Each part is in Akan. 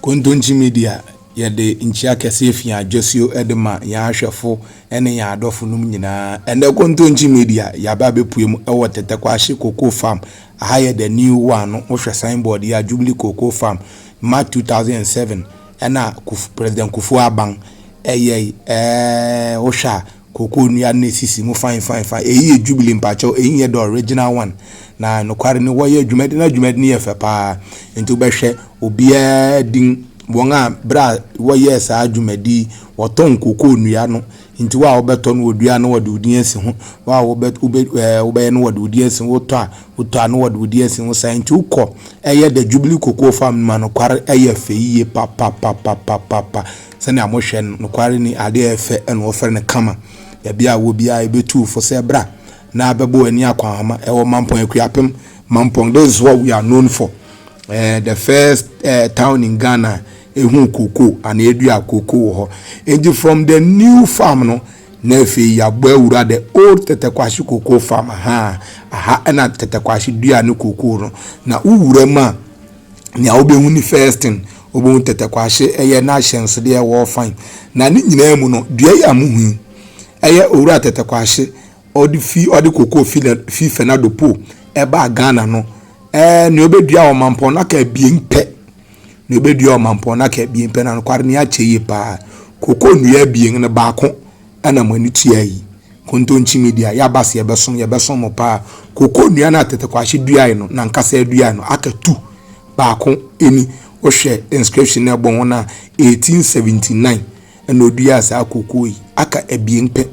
Kontonkye Media yɛde nkyia kɛseɛ fi adwasuo de ma yɛn ahwɛfo ne yɛn adɔfo nom nyinaa. Ɛnɛ Kontonkye Media yɛaba abɛpue mu wɔ Tɛtɛkwahye Cocoa Farm. Aha yɛ the new one no, wohwɛ signboard yi a, Jubilee Cocoa Farm, March 2007 ɛna President Kufuor Aban ɛyɛe. Ɛɛ wohwɛ a, Cocoa nnua no na esisi mu fine fine fine. Eyi yɛ Jubilee mpakyɛw, eyi nyɛ the original one. Na nokware ni wɔyɛ adwuma de na adwuma de no yɛ fɛ paa. Nti wobɛhwɛ obiara din, wɔn a bere a wɔyɛɛ saa dwumadi yi, wɔtɔn cocoa nnua no. Nti wo a wobɛtɔ no wɔdua na wɔde wo din asi ho. Wo a wobɛ wobɛ ɛɛ wobɛyɛ no wɔde wo din asi ho. Wotɔ a wotɔ a na wɔde wo din asi ho saa. Nti wokɔ ɛyɛ the Jubilee Cocoa Farm no mu a nokware ɛyɛ fɛ yiye papapapapapa. sɛnea mohwɛ no, nokware ni, ade a ɛyɛ fɛ na wɔfrɛ no kama. Baabi a wɔ biara ebetu fo sɛ bra na bɛbɔ w'ani akwahoama. Ɛwɔ Mampong, Akuapem, Mampong. This is what we are known for. Uh, the first uh, town in Ghana ehu koko ana edua koko wɔ hɔ. Enti from the new farm no na afei yɛabɔ awura the old tɛtɛkwahye koko farm ha aha ɛna tɛtɛkwahye dua ne koko no na wowura mu a nea wobehu ne first thing, wobehu tɛtɛkwahye, ɛyɛ n'ahyɛnsodeɛ ɛwɔ ɔfan. Na ne nyinaa mu no, dua yi a mohu yi, ɛyɛ owura tɛtɛkwahye, ɔde fi ɔde kokoo fi fi fernado po ɛbaa ghana no ɛɛ nea ɔbɛdua wɔ mampɔn no aka abien pɛ nea ɔbɛdua wɔ mampɔn no aka abien pɛ na nokware ne akyɛ yie paa kokoo nnua abien no baako Ɛna mo ani tua yi. Kontonkyi media yaba se yɛbɛsom yɛbɛsom mo paa koko nua no a tete kwahye duae no nankasa aduae no aka tu baako eni wohwɛ inscription no ɛbɔ ho no a 1879 ɛna oduaa saa koko yi aka abien pɛ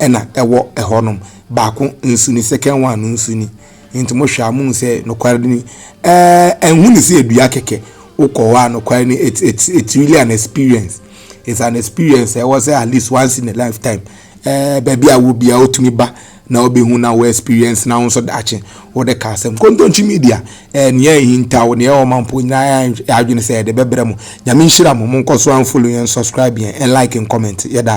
ɛna ɛwɔ ɛhɔ nom baako nso ni second one no nso ni Enti mohwɛ a, mohu sɛ nokware no ni? Ɛɛ, nhu no sɛ dua kɛkɛ. Wokɔ hɔ a, nokware no, it's, it's, it's really an experience. It's an experience ɛwɔ sɛ at least once in a lifetime. Ɛɛ, baabi a wɔ biara wotumi ba na wobɛhu na wɔ experience na wo nso daakye wode ka asɛm. Kontonkyi media, ɛɛ, nea ɛhinta wo, nea ɛwɔ ma mpo nyinaa yɛ adwene sɛ yɛde bɛbrɛ mo. Nyame nhyira mo, monkɔ so and follow yɛn, subscribe yɛn, and like and comment. Yɛda.